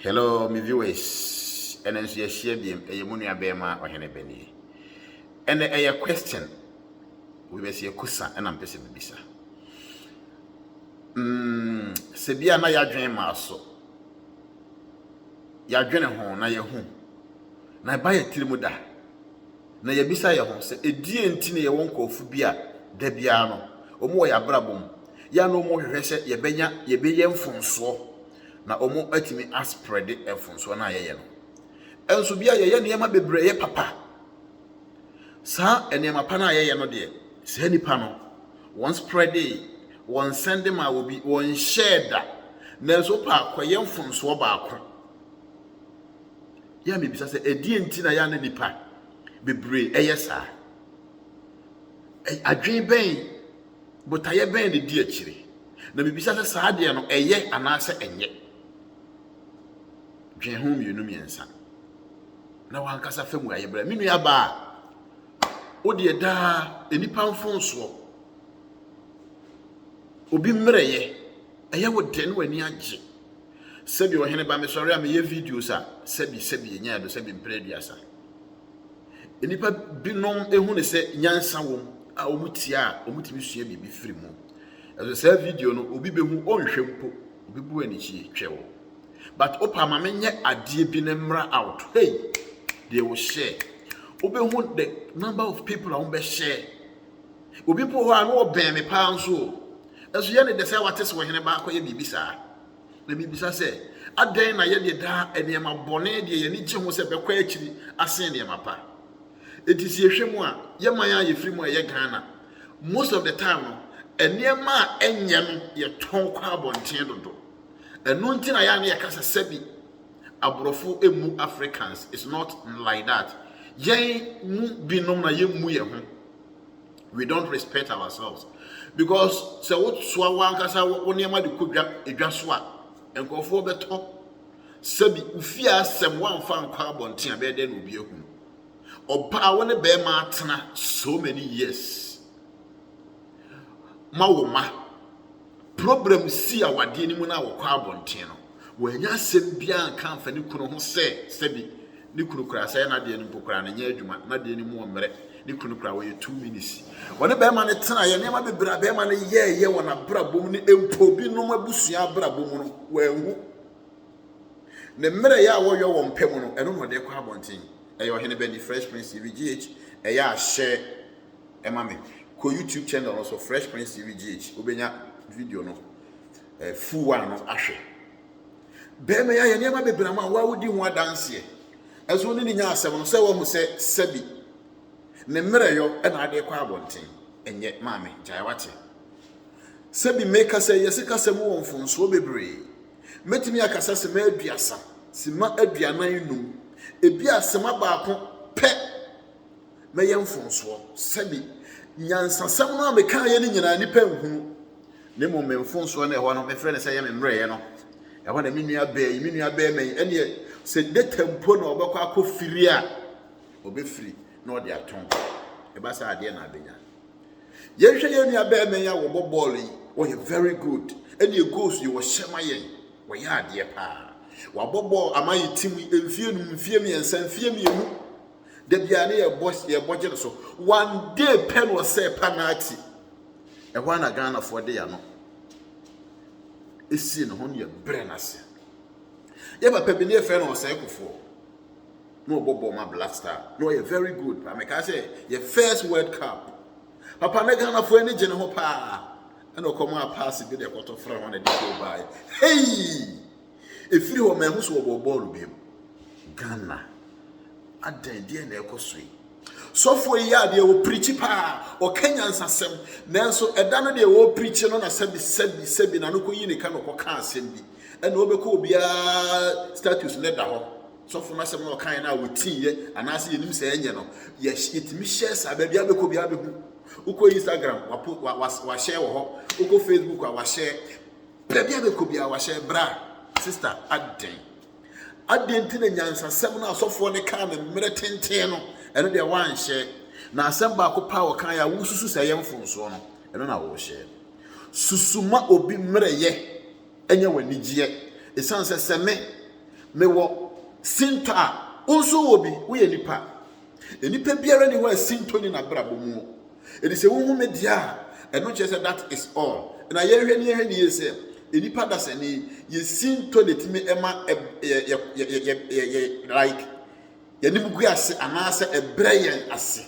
Hello me viewers, ɛnɛ nso yɛahyia biam, ɛyɛ mo nua bɛɛma ɔhene bɛnie. Ɛnɛ ɛyɛ question, wobɛsi akusa ɛna mpɛ sɛ bibisa. Mm, sɛ bia na yɛadwene maa so, yɛadwene ho na yɛhu, na ɛba yɛ tiri mu da, na yɛbisa yɛ ho sɛ ɛdie nti na yɛwɔ nkurɔfo bi a da biara no, wɔn wɔ yɛ abrabɔ mu, yɛ na wɔn hwehwɛ sɛ yɛbɛnya yɛbɛyɛ mfonsoɔ na wɔatumi asprɛde mfomsoɔ no a yɛyɛ no. Nso bia yɛyɛ nneɛma bebree yɛ papa. Saa nneɛma pa no a yɛyɛ no deɛ, saa nnipa no, wɔn sprɛde, wɔn sɛnde maa wɔ bi, wɔn hyɛɛ da. Nanso wopɛ akɔyɛ mfomsoɔ baako. Yɛ a mebisa sɛ, ɛdeɛ nti na yɛ a na nnipa bebree ɛyɛ saa? Adwene bɛn Botaeɛ bɛn na ɛdi akyire? Na mebisa sɛ, saa adeɛ no, ɛyɛ anaasɛ ɛnyɛ? Dwen ho mmienu mmiɛnsa na w'ankasa fa mu ayɛ brɛ. Me nua baa, wo deɛ daa nnipa mfonsoɔ. Obi mmerɛyɛ, ɛyɛ wo dɛ ne w'ani agye. Sɛbi ɔhene ba mesɔre a meyɛ videos a sɛbi sɛbi ɛnya ɛdo sɛbi mprɛ aduasa. Nnipa binom hu no sɛ nyansa wom a wɔtie a wɔtumi sua biribi firi mu. Ɛso saa video no obi bɛhu ɔnhwɛ mpo obi bu anikyie twɛ wo. But opa ma menyɛ adeɛ bi na mmra out. Hey! Deɛ wo share. Wobɛhu the number of people a wɔbɛhyɛ. Obi mpo hɔ a na ɔbɛn me paa nso o. Ɛso yɛ ne dɛ sɛ wate sɛ ɔhene ba akɔyɛ biribi saa. Na mibisa sɛ, adɛn na yɛde daa nneɛma bɔne deɛ yɛn ani gye ho sɛ ɛbɛkɔ akyiri asen nneɛma pa? Enti sɛ yɛhwɛ mu a, yɛn man a yɛfiri mu a ɛyɛ Ghana, most of the time no, nneɛma a ɛnyɛ no yɛtɔn kɔ abɔnten dodo. Ɛno nti na yɛa na yɛka sɛ sɛbi aborɔfo mmu Africans, it's not like that. Yɛn mu binom na yɛmmu yɛn ho. we don't respect ourselves because sɛ wosoa wankasa wo nneɛma de kɔ dwa edwa so a nkurɔfoɔ bɛtɔ sɛbi ofie asɛm wamfa nkɔ abɔnten a bɛyɛ dɛ na obi ahu ɔbaa wo ne bɛrima atena so many years ma wo ma Problem sii awadeɛ no mu no a wɔkɔɔ abɔnten no, wannya asɛm biara anka amfa ne kunu ho sɛ sɛbi ne kunu koraa asɛe n'adeɛ no mpo koraa no ɛnyɛ adwuma, n'adeɛ no mu ɔmmerɛ, ne kunu koraa wɔyɛ two minutes. Wɔne barima no tenaeɛ, nneɛma bebree a barima no yɛɛyɛ wɔ n'abrabɔ mu ne mpo binom abusua abrabɔ mu no wanhu. Ne mmerɛyɛ a wɔyɔ wɔn pɛ mu no, ɛno na ɔde kɔ abɔnten. Ɛyɛ Ɔhene Benny, Fresh Prince TV, GH, ɛyɛ ahyɛ. ma me kɔ YouTube channel no so Fresh Prince TV GH wobɛnya video no eh, full one no ahwɛ bɛrima yi ayɛ nneɛma bebree ama wo a wodi ho adanseɛ ɛso ne ne nya asɛm no sɛ wɔn sɛ sɛbi ne mmerɛyɔ ɛna adeɛ kɔ abɔnten ɛnyɛ maame gyae wate sɛbi mekasa yi ɛse kasa mu wɔ mfonsoɔ bebree mɛtumi akasa sima aduasa sima aduanan num ebi asema baako pɛ mɛyɛ mfomsoɔ, sɛbe nyansasɛm no a mekaeɛ no nyinaa nnipa nhunu, na mmom me mfomsoɔ no ɛhɔ no mefrɛ no sɛ ɛyɛ me mmerɛeɛ no, ɛhɔ na me nua bɛɛ yi, me nua bɛɛ mɛn, ɛneɛ sɛ data mpo na ɔbɛkɔ akɔ firi a, ɔbɛfiri na ɔde atɔn, ɛba sɛ adeɛ na abɛnya. Yɛnhwɛ yɛn nua bɛɛ mɛn a wɔbɔ bɔɔl yi, wɔyɛ very good, ɛneɛ goals yi wɔhyɛ ma yɛn, wɔyɛ adeɛ paa, wɔabɔ bɔɔl ama yɛ tim yi mfie num, mfie mmiɛnsa, mfie mmienu, Da biara ne yɛbɔ yɛbɔ gye no so. One day pɛ na ɔsɛe Panati. Ɛhɔ ara na Ghanafoɔ de yɛn ano esie ne ho ne yɛbrɛ no ase. Yɛ papa bi ne yɛfrɛ no ɔsɛe kofoɔ na ɔbɔ bɔɔl ma Black Star na ɔyɛ very good paa. Mekaa sɛ yɛ first World Cup papa ne Ghanafoɔ ani gye ne ho paa ɛna ɔkɔmaa paase bi na ɛkɔtɔ fra ho na ɛde kɔɔ baeɛ. Hei! Ɛfiri hɔ manhu sɛ wɔbɔɔ bɔɔlo biom. Ghana adɛn deɛ na ɛkɔ so yi sɔfoɔ yi yɛ adeɛ wɔ pirikyi paa ɔka nyansasɛm nanso ɛda no deɛ wɔ pirikyi no na sɛbi sɛbi sɛbi na no kɔyi ne ka na ɔkɔka asɛm bi ɛna ɔbɛkɔ obiara status no da hɔ sɔfo no asɛm na ɔkaeɛ no a wɔtiiɛ anaasɛ yɛnim sɛ ɛnyɛ no yɛtumi hyɛ saa baabi abɛkɔ biara bɛhu wokɔ instagram wahyɛ wɔ hɔ wokɔ facebook a wahyɛ Baabi a mekɔ biara wahyɛ bra. Sista adɛn? Adɛn nti na nyansasɛm no asɔfoɔ no kaa no mmerɛ tenten no, ɛno deɛ woanhyɛ? Na asɛm baako paa wɔkaa yɛ a wosusu sɛ ɛyɛ mfonsoɔ no, ɛno na wohyɛ? Susu ma obi mmerɛyɛ nyɛ w'anigyeɛ. Ɛsiane sɛ sɛ me, mewɔ sintɔ a, wo nso wɔ bi, woyɛ nipa. Nnipa biara ni hɔ a sintɔ ni n'abrabɔ mu. Ɛdi sɛ wohu me deɛ a, ɛno kyerɛ sɛ that is all. Na yɛhwɛ ne yɛhwɛ ne yie sɛ, nnipa dasani, yɛ sintɔ na ɛtumi ɛma yɛ like yɛnim gu ase anaasɛ ɛbrɛ yɛn ase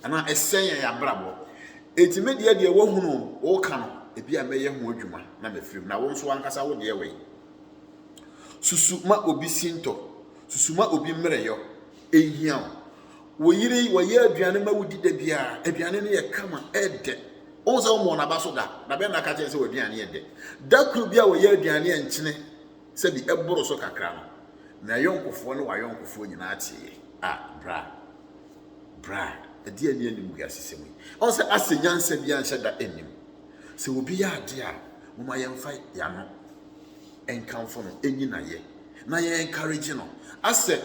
anaa ɛsɛ yɛn abrabɔ. Enti me deɛ deɛ wohunu woka no, ebi a mɛyɛ ho adwuma na mafirim na wo nso ankasa wo deɛ wei. Susu ma obi sintɔ, susu ma obi mmerɛyɔ. Enhia wo. Wo yere wɔyɛ aduane ma wodi da biara. Aduane no yɛ kama, ɛdɛ. Ohun sɛ wɔmmɔ n'aba so da. Na bɛn na aka kyerɛ sɛ w'aduane yɛ dɛ? Da koro bi a wɔyɛ aduane a nkyene sɛ bi ɛboro so kakra no, na ayɔnkofoɔ ne w'ayɔnkofoɔ nyinaa teeɛ. A, bra. Bra. Ɛdeɛn ne animguasesɛm yi? Ɔn sɛ Ase nyansa biara nhyɛ da nnim. Sɛ obi yɛ adeɛ a, momma yɛmfa yɛn ano. nkamfo no enyi na yɛ na yɛ encourage no asɛ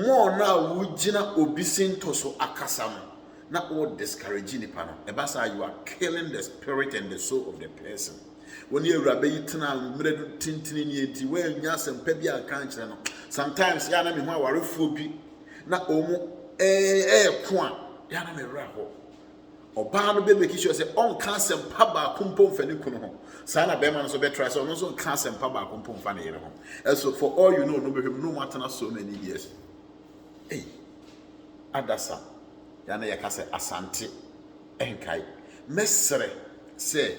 more na a wo gyina obi sintɔ so akasa no na wo discourage nipa no ɛba saa you are killing the spirit and the soul of the person wɔn ne awuraba yi tena mmerɛ do tentene ni enti wɔanya asɛmpa bi anka nkyerɛ no sometimes yɛ a na me ho awarefoɔ bi na wɔn ɛɛko a yɛ a na me werɛ hɔ Ɔbaa no bɛ make sure sɛ ɔnka asɛmpa baako mpo mfa ne kunu ho. Saa na bɛrima no nso bɛtra sɛ ɔno nso nka asɛmpa baako mpo mfa ne yere ho. Ɛso for all you know no bɛhwɛ mu no mu atena so many years. Ei, adasa, yɛa na yɛka sɛ asante nkae. Mɛsrɛ sɛ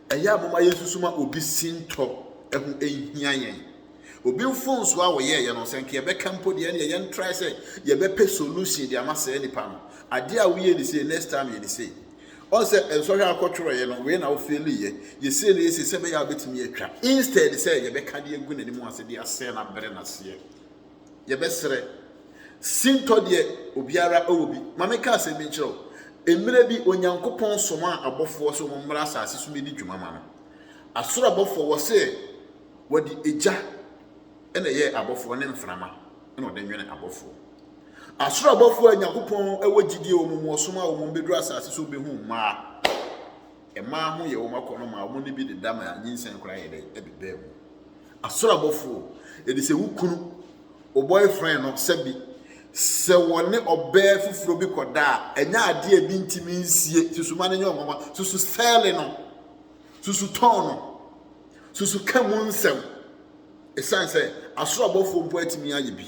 ɛyɛ a moma yɛnsusuma obi sintɔ ɛho ɛnhia yɛn. Obi mfomsoɔ a ɔyɛeɛ no sɛ nka yɛbɛka mpo deɛ ɛneɛ yɛn try sɛ yɛbɛpɛ solution de ama saa nipa no adeɛ a woyɛ ni sei next time yɛ ni sei ɔn sɛ nsɔhwɛ akɔtwerɛeɛ no wei na wofeeliyɛ yɛ sei ne yɛ sei sɛ bɛyɛ a wobɛtumi atwa instead sɛ yɛbɛka de agu n'anim ase de asɛe no abrɛ no aseɛ yɛbɛserɛ sintɔ deɛ obiara ɛwɔ bi ma meka asɛm bi nkyerɛ o mmerɛ bi onyankopɔn somaa abɔfoɔ sɛ wɔn mmra asase so mɛdi dwuma ma no asoro abɔfoɔ wɔ se Wɔde egya na ɛyɛɛ abɔfoɔ ne mframa na wɔde nwene abɔfoɔ. Asoro abɔfoɔ a Nyankopɔn wɔ gyidie wɔ wɔn mu ɔsom a wɔn bɛduru asase so bɛhu mmaa. Mmaa ho yɛ wɔn akɔnnɔ maa wɔn ne bi deda maa nyinsɛn koraa yɛ dɛ ɛbebaa mu. Asoro abɔfoɔ, ɛde sɛ wo kunu, wo boyfriend no sɛbi sɛ wɔne ɔbaa foforɔ bi kɔda a, ɛnyɛ adeɛ a ebi ntumi nsie, susuma no nyɛ wɔn nwanwa, susu sɛɛle no, Susu tɔn no. Susu ka mu nsɛm. Ɛsiane sɛ asoro abɔfoɔ mpo atumi ayɛ bi.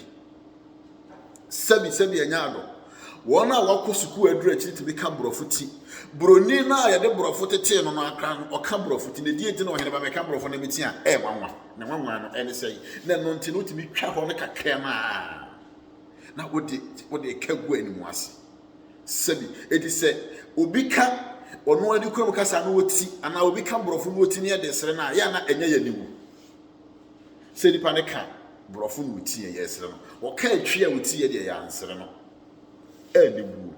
Sɛbi sɛbi ɛnyɛ adɔ. Wɔn a wɔakɔ sukuu aduru akyiri tumi ka borɔfo ti. Buroni no a yɛde borɔfo tetee no no akra no, ɔka borɔfo ti. Na ɛdeɛ nti na ɔhene ba mɛka borɔfo na meti a ɛyɛ nwanwa. Na nwanwa no ɛne sɛi. Na ɛno nti no wotumi twa hɔ no kakra no a na wode ka gu anim ase. Sɛ bi, enti sɛ obi ka ɔno ara ne kurom kasa no wɔ ti anaa obi ka borɔfo no wɔ ti ne yɛ de sere no a, yɛ ana ɛnyɛ yɛ aniwu? Sɛ nipa no ka borɔfo no wɔ ti yɛ yɛ sere no, ɔka atwi a ɔti yɛ deɛ yɛ ansere no aniwu.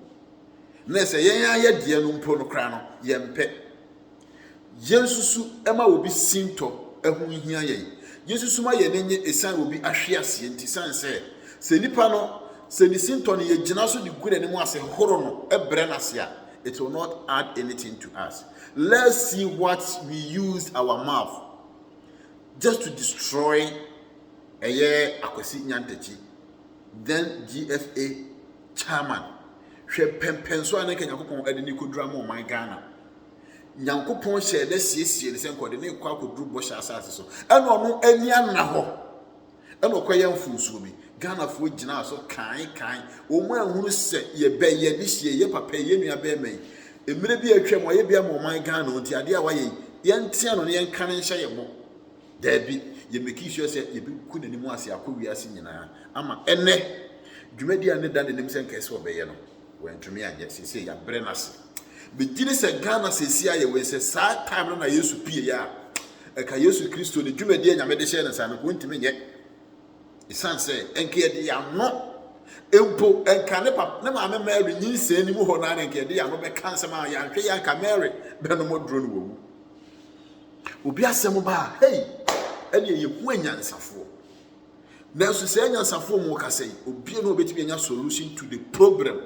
Na sɛ yɛn ayɛ deɛ no mpo no koraa no, yɛmpɛ. Yensusu ma obi sintɔ ho nhia yɛn. Yensusu ma yɛn ani nnye esiane obi ahweaseɛ nti, esiane sɛ sɛ nipa no, sɛ ne sintɔ no yegyina so de gu n'anim ase horo no, brɛ no ase a, it will not add anything to us. Let's see what we used our mouth just to destroy ɛyɛ Akwasi Nyantakyi, then GFA chairman. Hwɛ pɛmpɛnso a na nka Nyankopɔn de ne kɔdura ma ɔman Ghana. Nyankopɔn hyɛɛ no asiesie no sɛ nka ɔde no rekɔ akɔduru bɔhyɛ asase so. Ɛna ɔno ani anna hɔ. Ɛna ɔkɔyɛ mfonsuomi. Ghanafoɔ gyinaa so kae kae. Wɔn anhunu sɛ yɛbɛ yɛ ne hyie, yɛ papa yi, yɛ nua bɛɛma yi. Mmerɛ bi a atwam wayɛ bi ama ɔman Ghana nti adeɛ a wayɛ yi, yɛntea no na yɛnka no nhyɛ yɛ bo. Daabi, yɛmeki sua sɛ yɛbɛku n'anim ase akɔ wiase nyinaa ama ɛnɛ dwumadie a ne da n'anim sɛ nka ɛsɛ ɔbɛyɛ no. Wantumi anyɛ, seesei yɛabrɛ no ase. Megye di sɛ Ghana seesei ayɛ wei sɛ saa time no na Yesu pieeɛ a, ɛka Yesu Kristo ne dwumadie a Nyame de hyɛɛ ne nsa no nka ɔntumi nyɛ. Ɛsiane sɛ ɛnka yɛde yɛn ano mpo ɛnka ne papa ne maame Mary nyinsɛn no mu hɔ naa na ɛnka yɛde yɛn ano bɛka nsɛm a yɛanhwɛ yɛ anka Mary bɛnom aduro no wɔwu. Obi asɛm baa hei ɛne ɛyɛ hu anyansafoɔ. Nanso saa anyansafoɔ mu ɔkasa yi, obiara na ɔbɛtumi anya solution to the problem.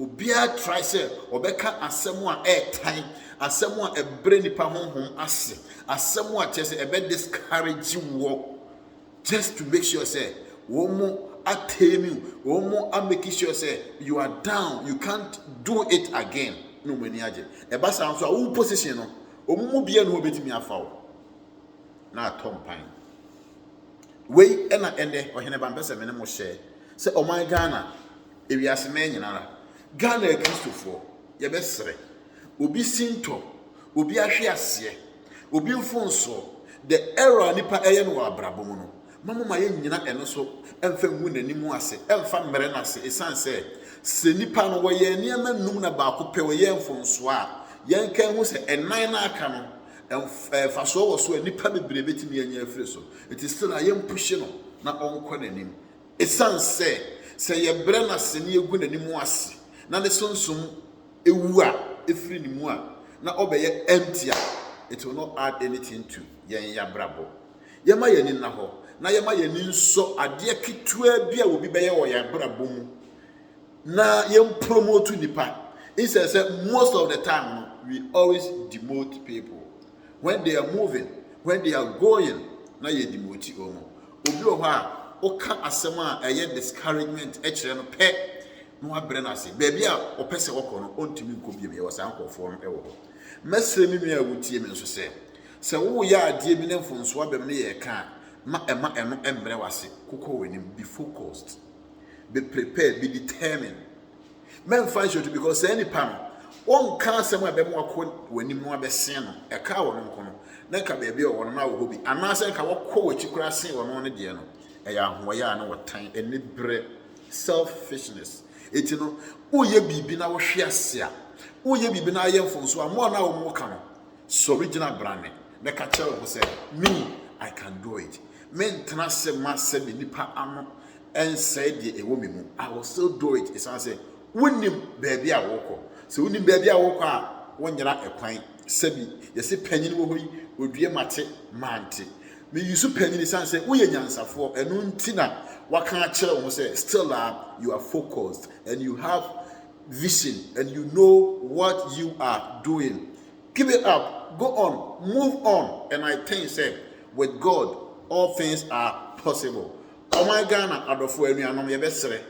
Obiara try sɛ ɔbɛka asɛm a ɛretan, asɛm a ɛbrɛ nipa honhom ase, asɛm a kyerɛ sɛ ɛbɛ discourage wɔ just to make sure sɛ wɔn mo attain you, wɔn mo a make sure sɛ you are down, you can't do it again. Na wɔn ani agye. Ɛba saa nso a wo position no, wɔn mu biara na wɔbɛtumi afa wo na atɔ mpan. Wei na ɛnnɛ Ɔhene Ba mpɛ sɛ me ne mo hyɛ sɛ ɔman Ghana, ewiase mɛn nyinara, Ghana Akristofoɔ, yɛbɛsrɛ, obi sintɔ, obi ahwe aseɛ, obi mfonsoɔ, the error a nipa ɛyɛ no wɔ abrabɔ mu no, ma mo ma yɛnnyina ɛno so ɛmfa ngu n'anim ase, ɛmfa mmerɛ no ase, ɛsiane sɛ sɛ nipa no wɔyɛ nneɛma nnum na baako pɛ ɔyɛ mfonsoɔ a, yɛnka nhu sɛ ɛnan no aka no, mfasoɔ wɔ so a nnipa bebree bɛtumi anya afiri so. Nti still a yɛmpushe no na ɔnkɔ n'anim. Ɛsiane sɛ sɛ yɛbrɛ no ase na yɛgu n'anim ase na ne sunsum wu a, ɛfiri ne mu a, na ɔbɛyɛ empty a, it will not add anything to yɛn y'abrabɔ. Yɛma y'ani nna hɔ na yɛma y'ani nsɔ adeɛ ketewaa bi a obi bɛyɛ wɔ y'abrabɔ mu na yɛn promote nnipa instead sɛ most of the time no we always demote people when they are moving when they are going na yɛ demote wɔn obi wɔ hɔ a woka asɛm a ɛyɛ discouragement kyerɛ no pɛ na wabrɛ no ase baabi a ɔpɛ sɛ ɔkɔ no ɔntumi nkɔ biom yɛwɔ saa nkurɔfoɔ no wɔ hɔ mɛsrɛ me nua a wotie me nso sɛ sɛ woyɛ adeɛ bi ne mfonsoɔ abɛm ne yɛ ka a ma ɛma ɛno mmerɛ wase kokɔ w'anim be focused me prepare me determine mɛmfa nhyɛ to because saa nipa no wɔnka asɛm a ɛbɛma wakɔ w'anim no abɛsen no ɛka wɔn nko no na nka baabi a wɔn na wɔ hɔ bi anaasɛ nka wɔkɔ w'akyi koraa sen wɔn no deɛ no ɛyɛ ahoɔyɛ a na wɔtan ɛne brɛ selfishness eti no woyɛ biribi na wohwe ase a woyɛ biribi na ayɛ mfonso a mmoa no a wɔn ka no Sɔre gyina bra me na ka kyerɛ wo ho sɛ, Me, I can do it. Mentena ase mma sɛ me nipa ano nsɛe deɛ ɛwɔ me mu. I will still do it. Ɛsiane sɛ wonnim baabi a worekɔ. Sɛ wonim baabi a worekɔ a, wonyera ɛkwan. Sɛbi, yɛse panyin wɔ hɔ yi, odue mate, mante. Me use panyin ɛsiane sɛ woyɛ nyansafoɔ. Ɛno nti na waka akyerɛ wo ho sɛ, still a, you are focused and you have vision and you know what you are doing. Keep it up, go on, move on and I think sɛ with God all things are possible. Ɔman Ghana adɔfoɔ anuanom yɛbɛsrɛ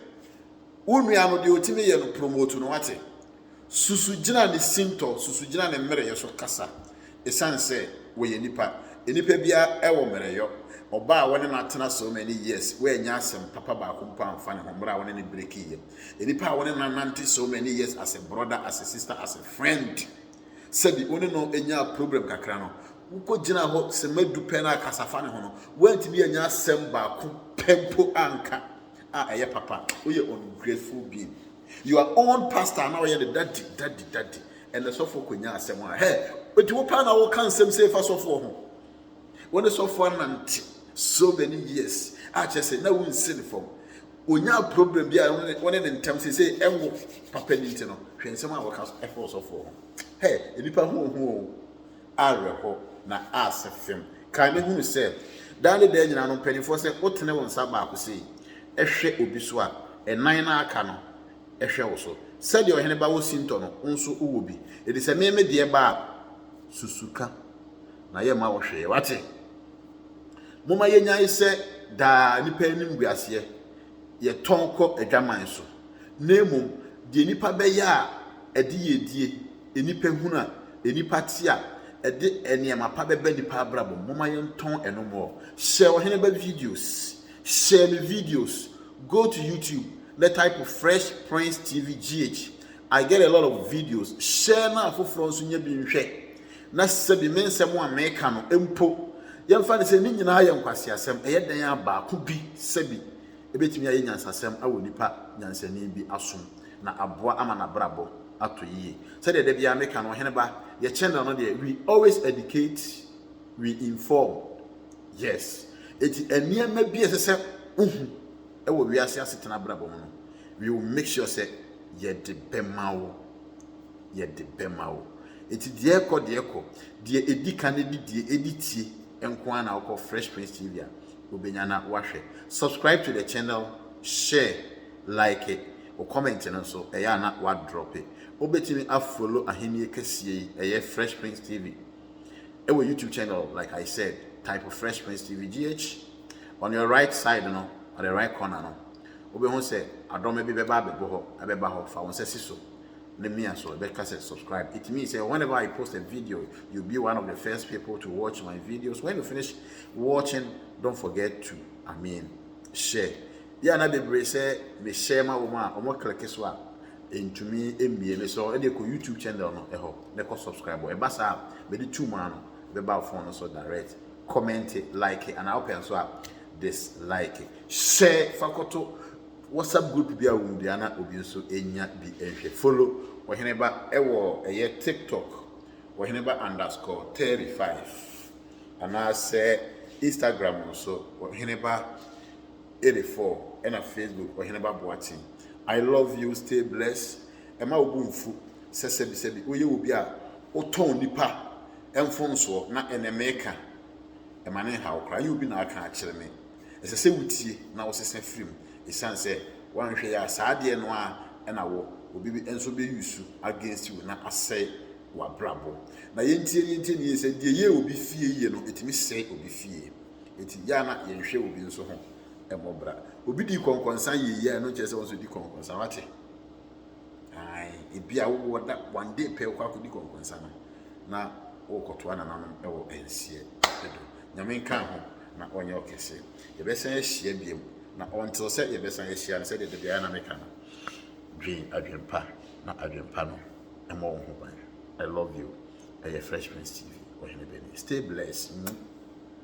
wo nua no deɛ ɔtumi yɛ no promote no wate. Susu gyina ne sintɔ, susu gyina ne mmerɛyɛ so kasa. Ɛsiane sɛ wɔyɛ nipa, nipa biara wɔ mmerɛyɔ. Ɔbaa a wɔne no atena so many years, wannya asɛm papa baako mpo amfa ne ho mmerɛ a wɔne no breakii yɛ. Nnipa a wo ne no anante so many years as a brother, as a sister, as a friend, sɛbi wo ne no nyaa problem kakra no, wokɔgyinaa hɔ sɛmma du pɛ na akasa fa ne ho no, woantumi annya asɛm baako pɛ mpo anka a ɛyɛ papa. Woyɛ ungrateful being. Your own pastor a na ɔyɛ ne daddy, daddy, daddy, ɛnɛ sɔfoɔ kɔnyaa asɛm a, hɛ, enti wo paa na woka nsɛm sei fa sɔfoɔ ho? Wo ne sɔfo anante so many years a kyerɛ sɛ na wonsi ne fam. Onyaa problem bi a wo ne ne ntam sese ɛnwo papa ni nti no, hwɛ nsɛm a wɔka fa ɔsɔfo ho. Hɛ, nnipa ho ohu o. Awerɛho na asɛ fam. Kae na hunu sɛ, daa ne daa nyinaa no mpanimfoɔ sɛ wotene wo nsa baako sei hwɛ obi so a, nnan no a aka no hwɛ wo so. Sɛdeɛ ɔhene ba wɔ sintɔ no, wo nso wowɔ bi. Enti sɛ me me deɛ ba a, susu ka. na yɛmma wo hwee. Wate? Momma yɛnyae sɛ daa nnipa animguaseɛ yɛtɔn kɔ adwaman so, na mmom deɛ nnipa bɛyɛ a ɛde yiedie, nnipa hunu a nnipa te a ɛde nneɛma pa bɛba nnipa abrabɔ mu, momma yɛntɔn ɛno mmɔɔ. Hyɛ Ɔheneba videos. Hyɛ me videos. Go to YouTube na type Fresh Prince TV GH. I get a lot of videos, share na afoforɔ nso nyɛ bi nhwɛ na sɛbi me nsɛm a meka no mpo yɛmfa no sɛ ne nyinaa yɛ nkwaseasɛm, ɛyɛ dɛn a baako bi sɛbi ɛbɛtumi ayɛ nyansasɛm awɔ nipa nyansani bi asom na aboa ama n'abrabɔ atɔ yie. Sɛdeɛ da biara meka no, Ɔheneba, yɛ channel no deɛ we always educate, we inform, yes, enti nneɛma bi a ɛsɛ sɛ wohu ɛwɔ wiase asetena abrabɔ mu no, we will make sure sɛ Yɛde bɛma wo. Yɛde bɛma wo. Eti deɛ ɛkɔ deɛ ɛkɔ. Deɛ edi ka ne de die edi tie nko ara na wokɔ Fresh Prince TV a wobɛnya na wahwɛ. Subscribe to the channel, share, like it. Wo comment no nso ɛyɛ a na wadrɔpe. Wobɛtumi afollow Ahennie Kɛseɛ yi, ɛyɛ Fresh Prince TV. Ɛwɔ YouTube channel, like I said, type Fresh Prince TV GH. On your right side no, on the right corner no, Wobɛhu sɛ adɔma bi bɛba abɛbɔ hɔ, ɛbɛba hɔ, fa wo nsa si so na mia so, ɛbɛka sɛ subscribe. It means sɛ whenever I post a video, you'll be one of the first people to watch my videos. When you finish watching, don't forget to, I mean, share. Bi a na bebree sɛ me share ma wɔn a wɔn kleke so a ɛntumi mmie me so, ɛde kɔ YouTube channel no ɛhɔ na ɛkɔ subscribe. Ɛba saa a, mede tu mu ano, ɛbɛba wo phone no so direct. Comment, like, anaa wopɛ nso a dislike. Sɛ fa kɔto WhatsApp group bi a wo mu bia na obi nso nya bi nhwɛ. Follow Ɔheneba wɔ ɛyɛ TikTok, Ɔheneba underscore thirty five. Anaasɛ Instagram nso, Ɔheneba eighty four. Ɛna Facebook, Ɔheneba Boaten. I love you, stay blessed. Ɛma wo bo mfu sɛ sɛbisɛbi woyɛ obi a wotɔn nipa mfomsoɔ na ɛnɛ meka. Ɛma no nhaw koraa. Ɛnyɛ obi na aka akyerɛ me. Ɛsɛ sɛ wotie na wosesa firi mu ɛsiane sɛ woanhwɛ yie a saa adeɛ no ara na wo obi bi nso bɛ use against you na asɛe w'abrabɔ. Na yɛntie no yɛntie no yie sɛ deɛ ɛyɛ obi fie yie no ɛtumi sɛe obi fie. Ɛti yɛ a na yɛnhwɛ obi nso ho mmɔbra. Obi di kɔnkɔnsa yie yɛ a ɛno nkyerɛ sɛ wo nso di kɔnkɔnsa wate. Ae, ebi a wowɔ da one day pɛ wokɔ akɔdi kɔnkɔnsa no na wokɔtoa nananom wɔ nseɛ do. Nyame nka ho na ɔnyɛ ɔkɛse. Yɛbɛsan ahyia biom na until sɛ yɛbɛsan ahyia no sɛdeɛ dabiara na meka no, dwen adwenpa na adwenpa no mmɔ wo ho ban. I love you. Ɛyɛ Fresh Prince TV, Ɔhene Bennie. Stay blessed.